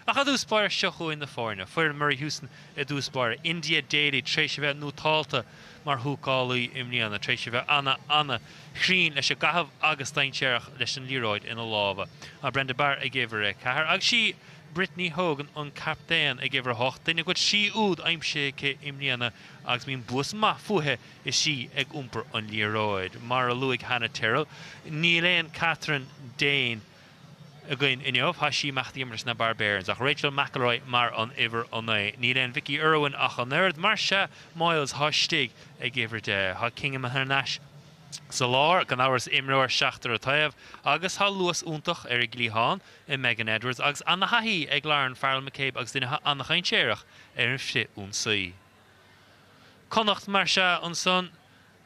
Ach i dtús báire seo chugainn na foirne, foireann Murray Houston i dtús báire, India Daley tar éis a bheith nótálta mar húcálaí i mbliana, tar éis a bheith ana ana chruinn leis an gcaitheamh agus dainséarach leis an liathróid ina lámha, Brenda Barr ag uimhir a 4 agus sí Brittany Hogan an captaen ag uimhir 8, duine a bhfuil trí úd aimsithe aici i mbliana agus bíonn luas maith fúithi is sí ag iompar an liathróid. Mar a luaigh Hannah Tyrrell, níl aon Kathryn Dane, againn inniu. Chaith sí imeacht ag imirt leis na Barbarians, ach Rachael McIlroy mar an uimhir a naoi. Níl aon Vicky Irwin ach an oiread, más ea, Moyles atá istigh ag uimhir deich. Tá Kinghan thar n-ais sa lár, gan amhras, imreoir seachtar taobh, agus tá luas iontach ar an gcliathán i Megan Edwards agus ana-thaithí ag Lauren Farrell McCabe agus duine atá ana-dhainséarach ar an frith-ionsaí. Connacht, más ea, ansan.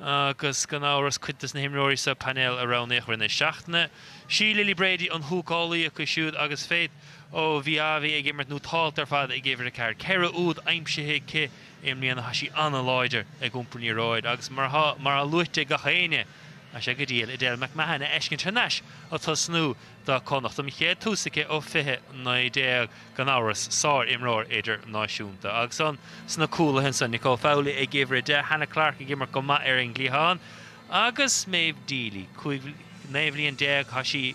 Agus gan amhras cuid dos na himreoirí sa painéal a roghnaíodh i rith na seachtaine. Sí Lily Brady an húcálaí acu siúd agus Faith Oviawe ag imirt nótálta ar fad ag uimhir a ceathair, ceithre úd aimsithe aici i mbliana. Tá sí an-láidir ag iompar an liathróid agus mar atá luaite ag gach éinne tá sé go diail Edel McMahon a fheiscint thar n-ais ag tosnú. do Chonnacht an chéad tús aici ó 2019, gan amhras, sár-imreoir idirnáisiúnta agus ins na cúlaithe ansan, Nicole Fowley ag uimhir 10, Hannah Clarke ag imirt go maith ar an gcliathán agus Méabh Deely, 15 bhliain, chuaigh sí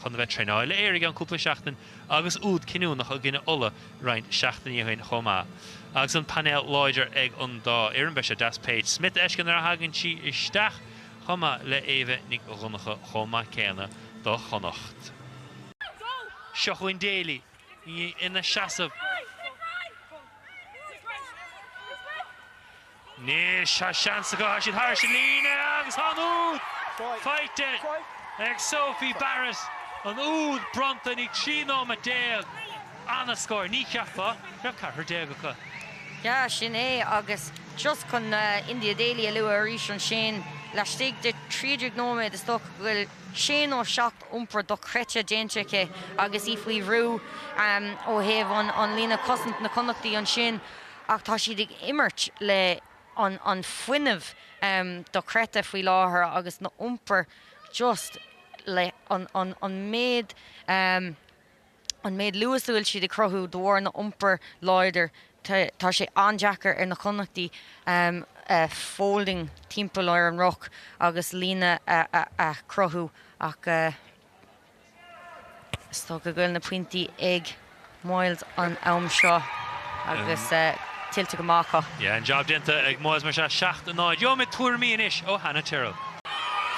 chun a bheith traenáil le Éirinn cúpla seachtain agus úd cinniúnach i gcoinne Uladh roinnt seachtainí ó shin chomh maith. Agus an painéal láidir ag an dá fhoireann, beidh sé deas Paige Smyth a fheiscint nuair a thagann sí isteach chomh maith le Éabha Nic Dhonnacha chomh maith céanna do Chonnacht. Seo chugainn Daley, í ina seasamh. Anois tá seans acu, tá siad thairis an líne agus tá an úd faighte ag Sophie Barrett, an úd bronnta i ndiaidh 13 nóiméad. ana scór, ní cheapfá. Raibh ceathrar déag acu. Yeah, sin é. Agus just chun India Daley a lua arís ansin, laistigh de thrí déag nóiméad is dócha go bhfuil sé nó seacht iompar dochreidte déanta aici agus í faoi bhrú ó thaobh an líne cosanta, na Connachtaí ansin ach tá siad ag imirt le an fuinneamh dochreidte faoi láthair agus na iompar just le an méid. an méid luas a bhfuil siad ag cruthú de bharr na iompar láidir tá sé an-deacair ar na Connachtaigh folding timpeall ar an ruc agus líne a chruthú ach is dócha go bhfuil na pointí ag Moyles an am seo agus tuillte go maith acu. Yeah, an jab déanta ag Moyles más ea, 7 in 0. Gheobhaimid tuairimí anois ó Hannah Tyrrell.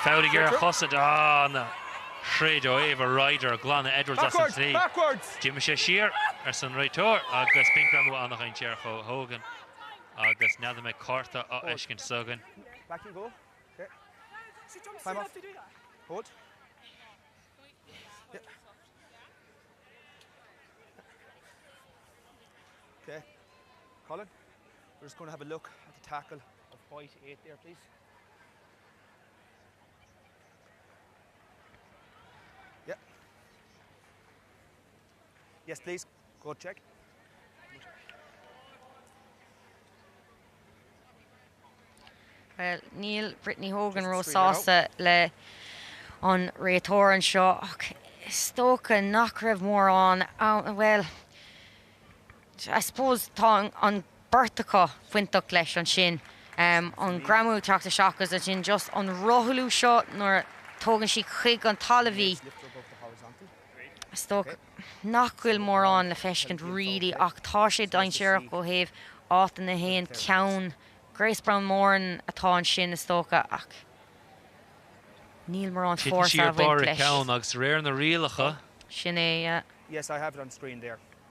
Fouligera chosaint, Hannah. Shroich Ava Ryder glanadh Edwards as an tslí. D'imigh sé siar, arsa an réiteoir agus b'in greamú an-dhainséarach ó Hogan agus n'fheadar an mbeidh cárta á fheiscint anseo againn. Bhuel, níl Brittany Hogan ró-sásta le an réiteoir anseo ach is dócha nach raibh mórán ann. Bhuel, I suppose tá an beirt acu bainteach leis ansin, an greamú ag teacht isteach agus ansin just an rothlú seo nuair a tugann sí chuig an talamh í. Is dócha nach bhfuil mórán le feiscint really ach tá sé dainséarach ó thaobh áit ina théann ceann Grace Browne Moran atá ansin is dócha ach níl mórán fórsa ag baint leis. Titeann sí ar barr a ceann agus de réir na rialacha. Sin é yeah.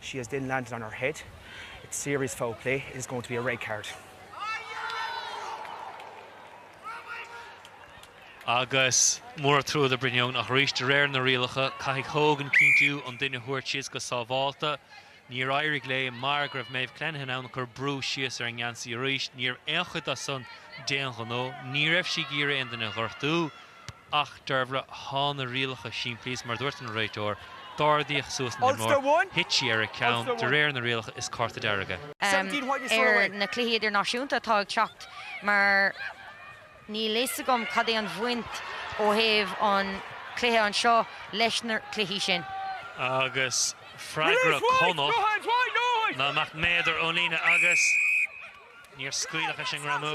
She has then landed on her head. It's serious foul play. It is going to be a red card. Agus mór an trua do Brittany, ach arís de réir na rialacha, caithfidh Hogan cinntiú an duine a thabhairt síos go sábhálta. Níor éirigh léi mar go raibh Maebh Clenaghan ann a chuir brú síos ar an ngeansaí arís. Ní raibh aon chuid de sin d'aon ghnó. Ní raibh sí ag iarraidh aon duine a ghortú. Ach Deirbhile, thá na rialacha simplí is mar dúirt an réiteoir, d'ardaíodh suas an imreoir, thit sí ar a ceann, de réir na rialacha, is cárta dearg é. ar na cluichí idirnáisiúnta atá ag teacht mar níl fhios agam cad é an bhaint ó thaobh an chluiche anseo leis na cluichí sin. Agus freagra Chonnacht ná amach méadar ón líne agus níor scaoileadh leis an ngreamú.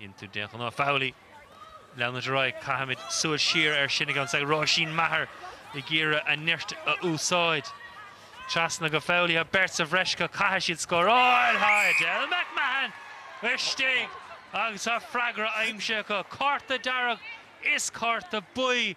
into den ghnáth Fowley. Leanúint ar aghaidh, caithfimid súil siar air sin ag an ag Róisín Maher ag iarraidh a neart a úsáid. Trasna go Fowley thá beirt sa bhreis acu caithfidh siad scóráil thá Edel McMahon istigh agus tá freagra aimsithe acu. Cárta dearg is cárta buí.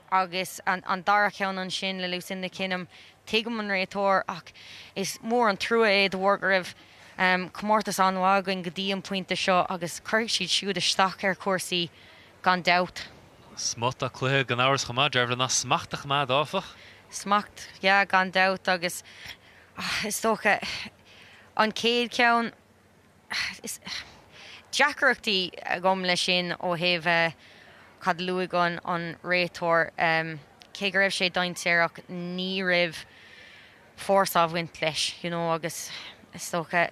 agus an dara ceann ansin le Lucinda Kinghan, tuigim an réiteoir ach is mór an trua é de bharr go raibh comórtas an-mhaith againn go dtí an pointe seo agus cuirfidh siad siúd isteach ar chúrsaí gan dabht. Smut den chluiche gan amhras chomh maith, Deirbhile ná smacht a choimeád áfach. Smacht, yeah, gan dabht agus is dócha an chéad cheann. Is deacrachtaí agam le sin ó thaobh cad a luaigh an réiteoir. Cé go raibh sé dainséarach ní raibh fórsa ag baint leis you know agus is dócha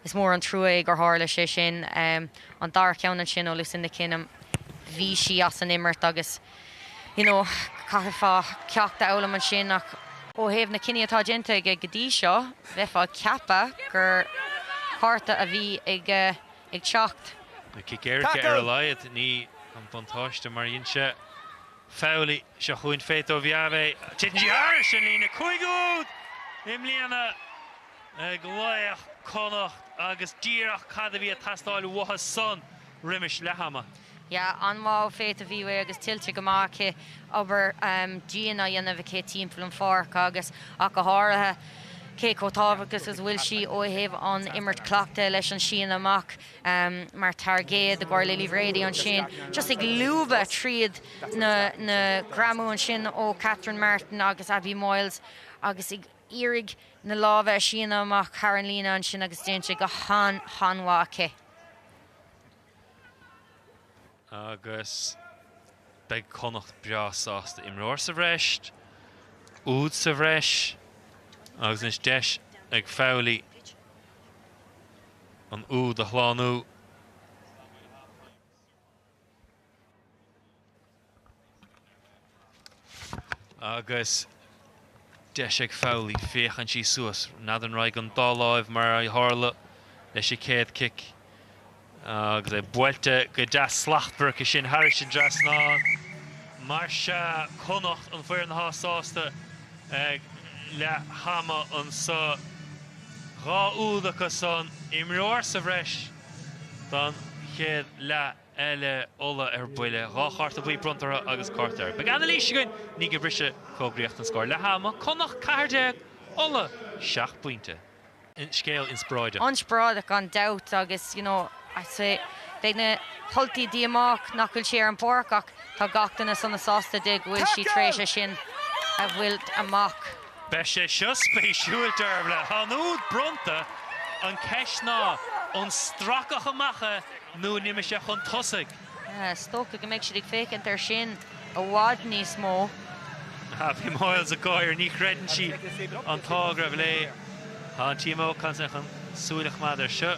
is mór an trua é gur tharla sé sin. An dara ceann ansin ó Lucinda Kinghan bhí sí as an imirt agus. you know chaithfeá ceacht a fhoghlaim ansin ach. ó thaobh na cinní atá déanta aige go dtí seo bheifeá ag ceapadh gur cárta a bhí ag ag teacht. Beidh cic éirice ar a laghad, ní an buntáiste mar sin Fowley. Seo chugainn Faith Oviawe. Titeann sí thairis an líne cúig úd i mbliana ag laoch Connacht agus díreach cad a bhí ag teastáil uathu san roimis leath ama. Yeah an-mhaith Faith Oviawe agus tuillte go maith aici obair dian á dhéanamh aici timpeall an pháirc agus, ach go háirithe, cé chomh tábhachtach is a bhfuil sí ó thaobh an imirt cleachta leis an síneadh amach mar tairgéad, i gcomhair Lily Brady ansin, just ag lúbadh tríd na greamú ansin ó Catherine Martin agus Abbie Moyles agus ag iarraidh na lámha a síneadh amach thar an líne ansin agus déanta go han-mhaith aici. Agus beidh Connacht breá sásta imreoir sa bhreis, úd sa bhreis, agus anois deis ag Fowley an úd a shlánú. Agus deis ag Fowley, féachann sí suas, n'fheadar an raghaidh an dá láimh mar a tharla leis an céad cic agus é buailte go deas slachtmhar aici sin thairis an trasnán. Mar sin, Connacht an foireann atá sásta ag leath ama anseo. Dhá úd acu san, imreoir sa bhreis. don chéad leath eile. Ulaidh ar buile. Dhá chárta buí bronnta orthu agus ceart go leor. Beidh anailís againn, i ndiaidh an bhriseadh fógraíocht an scór leath ama, Connacht 14, Ulaidh 7 bpointe. Scéal inspioráideach. Inspioráideach gan dabht agus you know beidh na hUltaigh díomách nach bhfuil sí ar an bpáirc ach tá gach duine sona sásta di go bhfuil sí tar éis é sin a bhaint amach. Beidh sé seo spéisiúil, deirim leat. An úd bronnta, an ceist ná, an stracadh amach é nó an imigh sé chun tosaigh? Is dócha go mbeidh siad ag féachaint air sin i bhfad níos mó. Abbie Moyles ag gáire. Ní chreideann sí an t-ádh go raibh léi. Tá an TMO chun súil a choimeád air seo.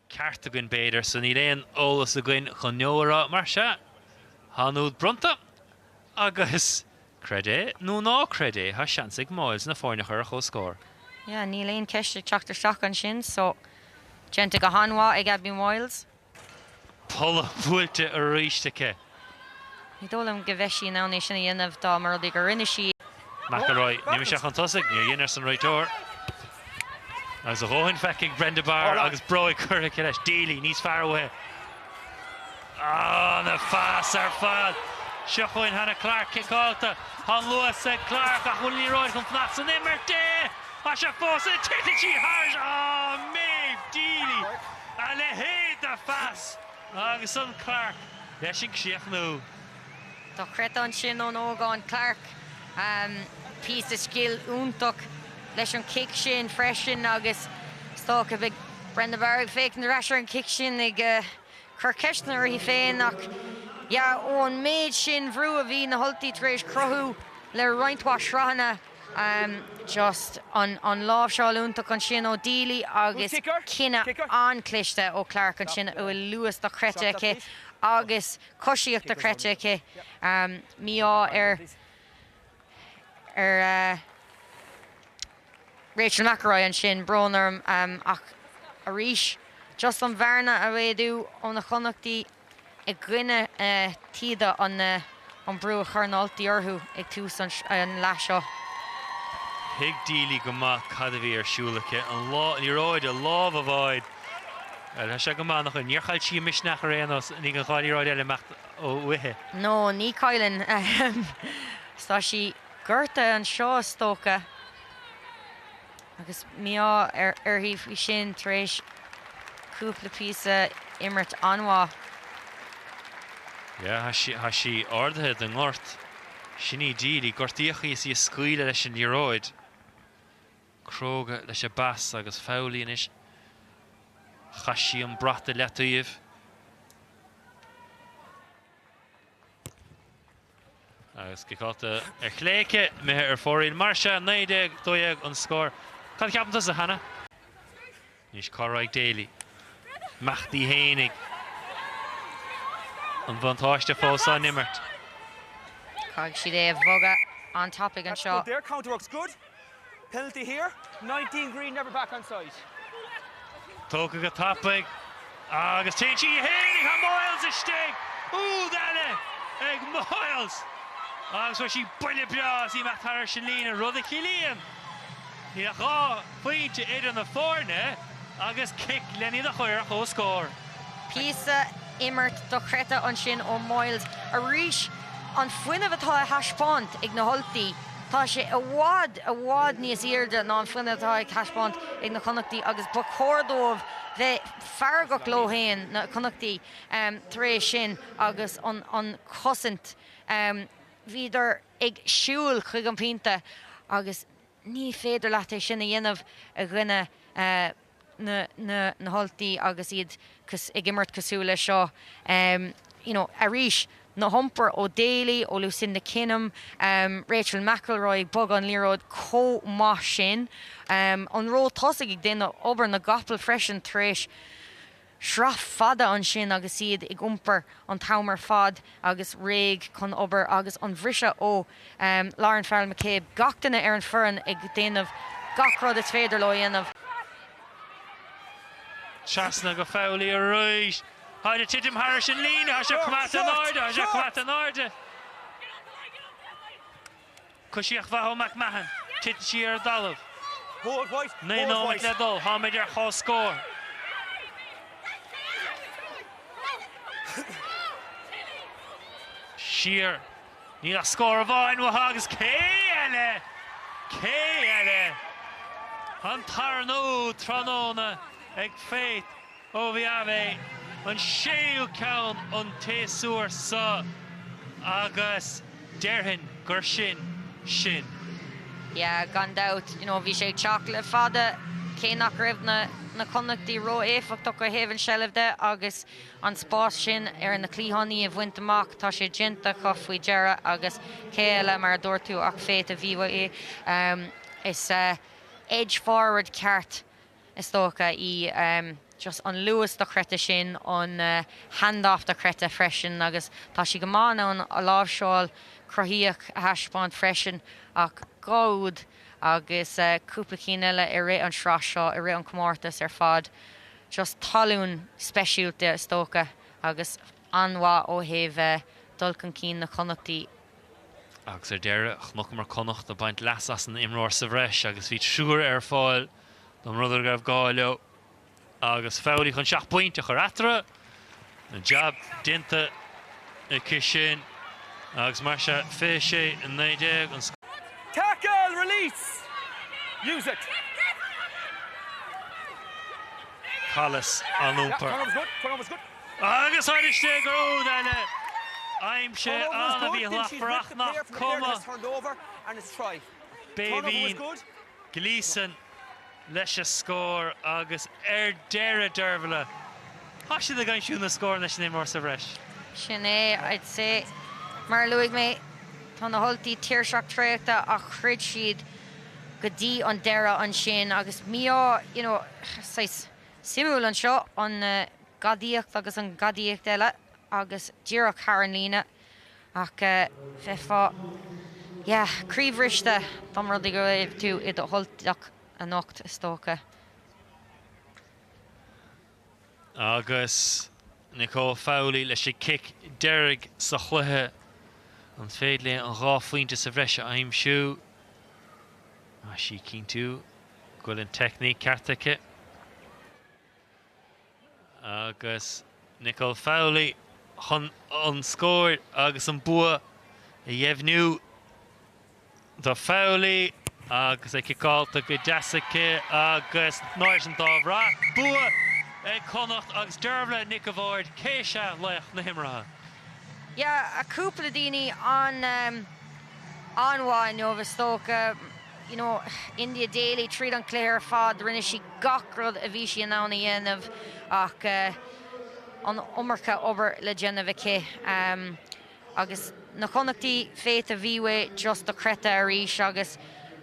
ceart againn b'fhéidir, so níl aon eolas againn chun no a rá, mar sea, thá an t-úd bronnta, agus, creid é nó ná creid é, thá seans ag Moyles na foirne a chur ar comhscór. Yeah, níl aon cheist ag teacht isteach ansin, so déanta go han-mhaith ag Abby Moyles. Polla buailte arís aici. Ní dóigh liom go bheadh sí in ann é sin a dhéanamh dá mba rud é gur rinne sí é. McIlroy ar imigh sé chun tosaigh, níor dhein, arsa an réiteoir. Agus a dhóthain feicthe ag Brenda Barr agus bróig curtha aici leis. Deely níos fearr uaithi. Ana-phas ar fad! Seo chugainn Hannah Clarke, ciceáilte. Tá an luas ag Clarke ach bhfuil an liathróid chun fanacht san imirt di! Tá sé fós ina, titfidh sí thairis! Ah, Méabh Deely! A leithéid de phas! agus an Clarke leis an gcríochnú. Dochreidte ansin ón ógán Clarke. Píosa scil iontach leis an chic sin freisin agus is dócha beidh Brenda Barr ag féachaint ar ais ar an chic sin ag cur ceisteanna uirthi féin ach yeah, ón méid sin bhrú a bhí na hUltaigh tar éis cruthú le roinnt mhaith sraitheanna. just an láimhseáil iontach ansin ó Deely agus cinneadh an-chliste ó Clarke ansin a bhfuil luas dochreidte aici agus coisíocht dochreidte aici. mí-ádh ar ar Rachel McIlroy ansin, brón orm, ach arís just an bhearna a mhéadú ó na Connachtaigh. i gcoinne taoide an brú a chuir na hUltaigh orthu ag tús an leath seo. Thuig Deely go maith cad a bhí ar siúl aici, an liathróid i lámh a bháid. Tá sé go maith ina choinne. Níor chaill sí a misneach ar aon nós. Níl an dhá liathróid eile imeacht uaithi. No, ní chailleann. Tá sí gortaithe anseo is dócha. agus mí-ádh uirthi faoi sin tar éis cúpla píosa imirt an-mhaith. Yeah, tá sí ardaithe den ngort. Sin í Deely. Gortaíodh í is í ag scaoileadh leis an liathróid. Cróga leis an bpas agus Fowley anois. Chaith sí an brat i leataoibh. Agus ciceáilte ar chlé aici, imithe ar fóraoil. Mar sea, 19-12 an scór. Cad a cheapann tusa, Hannah? Anois cá raghaidh Daley? Ag imeacht í fhéinig. An bhuntáiste fós á n-imirt. Caithfidh siad é a bhogadh an-tapaidh anseo. Penalty here, nineteen green never back on side. Tógtha go tapaidh agus téann sí féinig, Moyles istigh, úd eile ag Moyles agus fuair sí buille breá agus í ag dul thairis an líne, rud a chiallaíonn níl ach dhá phointe idir na foirne agus cic lena iad a chur ar comhscór. Píosa imirt dochreidte ansin ó Moyles arís, an fuinneamh atá á thaispeáint ag na hUltaigh. Tá sé i bhfad, i bhfad níos airde ná an fuinneamh atá ag taispeáint ag na Connachtaigh agus ba chóir dóibh bheith feargach leo féin, na Connachtaigh, tar éis sin agus an chosaint. Bhíodar ag siúil chuig an bpointe agus ní féidir leat é sin a dhéanamh i gcoinne. na nUltach agus iad ag imirt cosúil leis seo you know arís na hiompair ó Daly, ó Lucinda Kinghan, Rachel McIlroy ag bogadh an liathróid chomh maith sin, an ró tosaigh ag déanamh obair na gcapall freisin tar éis Sraith fada ansin agus iad ag iompar an t-am ar fad agus réidh chun obair agus an briseadh ó Lauren Farrell McCabe, gach duine ar an foireann ag déanamh gach rud is féidir leo a dhéanamh. Trasna go Foley arís. Táid ag titim thairis an líne. Tá sé coimeádta in airde. Tá sé coimeádta in airde. Coisíocht mhaith ó McMahon. Titeann sí ar an dtalamh. Naoi nóiméad le dul. Táimid ar comhscór. Siar. Níl ach scór amháin uathu agus cé eile? Cé eile? An tarna úd tráthnóna ag Faith. Ó Oviawe an séú ceann an tséasúir so agus déarfainn gur sin sin. Yeah, gan dabht, you know, bhí sé ag teacht le fada, cé nach raibh na Connachtaigh ró-éifeachtach ó thaobh an tseilbh de agus an spás sin ar na cliathánaí a bhaint amach, tá sé déanta acu faoi dheireadh agus cé eile, mar a dúirt tú, ach Faith Oviawe, is edge forward ceart is dócha, í, just an luas dochreidte sin, an handoff dochreidte freisin agus tá sí go maith in ann a láimhseáil cruthaitheach a thaispeáint freisin ach dhá úd agus cúpla cinn eile i rith an sraith seo, i rith an comórtas ar fad, just tallann speisialta is dócha agus an-mhaith ó thaobh dul chun cinn na Connachtaí. Agus ar deireadh, chonaiceamar Connacht ag baint leas as an imreoir sa bhreis agus bhí triúr ar fáil. Don rud a raibh gá leo agus Fowley chun seacht bpointe a chur eatarthu, an jab déanta aici sin agus mar sin 26, 19 an scór. Tackle! Release! Use it! Callas á n-iompar agus tháinig istigh gur úd eile aimsithe ann a bhí a ghlacfar ach nach cuma. Béibhinn Gleeson leis a scór agus ar deireadh Deirbhile, tá siad ag aimsiú na scóranna leis an imreoir sa bhreis. Sin é, I'd say. Mar a luaigh mé, tá na hUltaigh tuirseach traochta ach throid siad go dtí an deireadh ansin agus mí-ádh, you know, saghas suimiúil anseo, an ghadaíocht agus an ghadaíocht eile agus díreach thar an líne. Ach bheifeá, yeah, croíbhriste dá mba rud é go raibh tú i do Ultach anocht, is dócha. Agus Nicole Fowley leis an cic deiridh sa chluiche, an féidir léi an dhá phointe sa bhreis a aimsiú? Tá sí ag cinntiú go bhfuil an teicníc ceart aici. agus Nicole Fowley chun an scór agus an bua a dheimhniú do Fowley agus é ciceáilte go deas aici agus in airde téann an dá bhrat. Bua ag Connacht agus Deirbhile Nic a' Bháird cé hí laoch na himeartha. Yeah, cúpla daoine an-mhaith inniu is dócha. you know, India Daley tríd an cluiche ar fad, rinne sí gach rud a bhí sí in ann a dhéanamh ach eh an iomarca obair le déanamh aici em agus na Connachtaí Faith Oviawe just dochreidte arís agus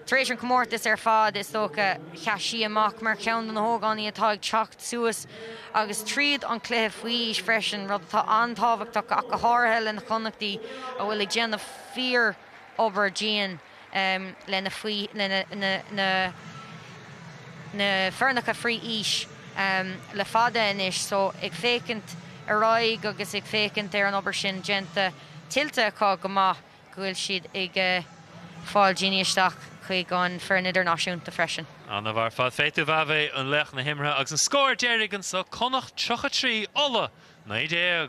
tar éis an chomórtas ar fad is dócha sheas sí amach mar cheann de na hógánaigh atá ag teacht suas agus tríd an cluiche faoi aois freisin, rud atá an-tábhachtach ach go háirithe le na Connachtaí a bhfuil ag déanamh fíor obair dian. na foirneacha faoi aois le fada anois, so ag féachaint ar aghaidh agus ag féachaint ar an obair sin déanta, tuillte acu go maith go bhfuil siad ag fáil daoine isteach chuig an foireann idirnáisiúnta freisin. An-mhaith ar fad Faith Oviawe, an laoch na himeartha agus an scór deiridh anso, Connacht 33, Ulaidh 19.